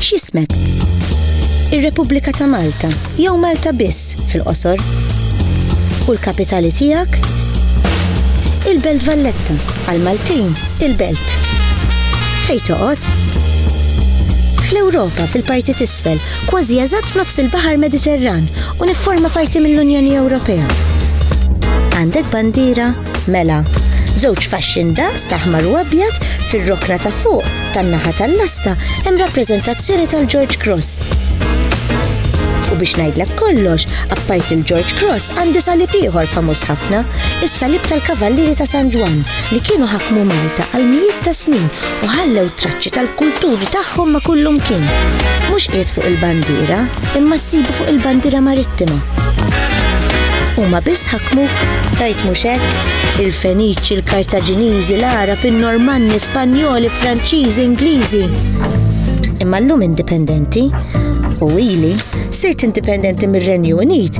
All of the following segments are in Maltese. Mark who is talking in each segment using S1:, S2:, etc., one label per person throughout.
S1: X'ismek? Ir-Repubblika ta' Malta jew Malta biss fil-qosor. U l-kapitali tiegħek? Il-Belt Valletta għal Maltin il-Belt. Fejn toqgħod? Fl-Ewropa fil-parti tisfel kważi eżatt f'nofs il-Baħar Mediterran u nifforma parti mill-Unjoni Ewropea. Għandek bandiera? Mela, żewġ faxxin daqs ta' ħmar u abjad fir-rokna ta' fuq tan-naħa tal-lasta hemm rappreżentazzjoni tal-George Cross. U biex ngħidlek kollox, appajt il-George Cross għandi salib ieħor famuż ħafna, is-salib tal-Kavallieri ta' San Ġwan li kienu ħakmu Malta għal mijiet ta' snin u ħallew traċċi tal-kulturi tagħhom ma' kullumkien. Mhux qiegħed fuq il-bandiera, imma ssibu fuq il-bandiera marittima. Huma biss ħakmu tajt mhux hekk? Il-Feniċi, il-Kartaġiniżi, l-Arab, in-Normanni, Spanjoli, Franċiżi, Ingliżi. Imma llum indipendenti u ili sirt indipendenti mir-Renju Unit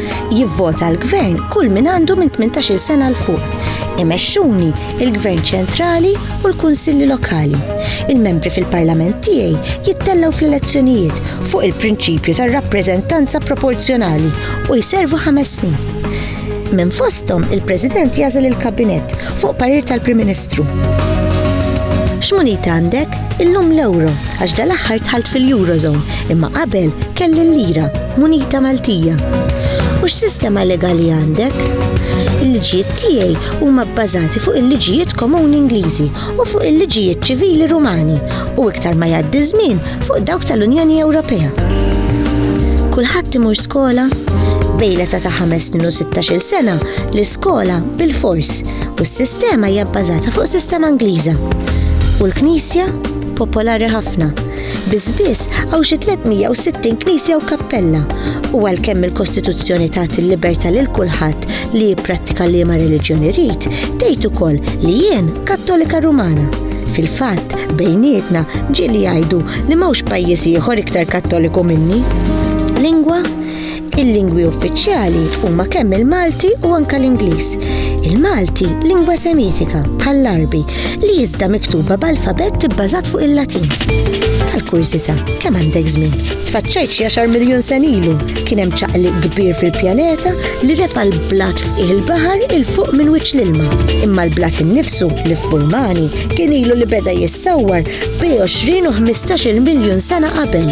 S1: Jivvota l-Gvern kull min għandu minn 18-il sena 'l fuq. Imexxuni il-Gvern Ċentrali u l-Kunsilli Lokali. Il-membri fil-Parlament tiegħi jittellgħu fl-elezzjonijiet fuq il-prinċipju tar-rappreżentanza proporzjonali u jservu ħames snin. Minn fosthom il-President jagħżel il-Kabinett fuq parir tal-Prim Ministru. X'munita għandek? Illum l-euro, għax dal-aħħar tħalt fil-Eurozone, imma qabel kelli l-lira, munita Maltija. U x'sistema legali għandek? Il-liġijiet tiegħi huma bbażati fuq il-liġijiet komuni Ingliżi u fuq il-liġijiet ċivili Rumani u iktar ma jgħaddi żmien fuq dawk tal-Unjoni Ewropea. Kulħadd imur skola? Bejleta ta' 5 snin u 16 sena l-iskola bil-fors u s-sistema hija bbażata fuq sistema Ingliża. U l-Knisja popolari ħafna. Biżbiss hawn xi 360 knisja u kappella u għalkemm il-Kostituzzjoni tagħti l-libertà lil kulħadd li jipprattika liema reliġjoni rid, tgħid ukoll li jien Kattolika Rumana. Fil-fatt, bejnietna ġieli jgħidu li m'hawnx pajjiż ieħor iktar Kattoliku minni. Lingwa Il-lingwi uffiċjali huma kemm il-Malti u anke l-Ingliż. Il-Malti lingwa Semitika bħall-Arbi li iżda miktuba b'alfabett ibbażat fuq il-Latin. Għal-kurżità, kemm għandek żmien? Tfaċċajt xi għaxar miljun sen ilu kien hemm ċaqli kbir fil-pjaneta li refa' l-blat f'qiegħ il-baħar il fuq minn wiċċ l-ilma. Imma l-blat innifsu li ffurmani kien ilu li beda jissawwar bej 20 u 15 miljun sena qabel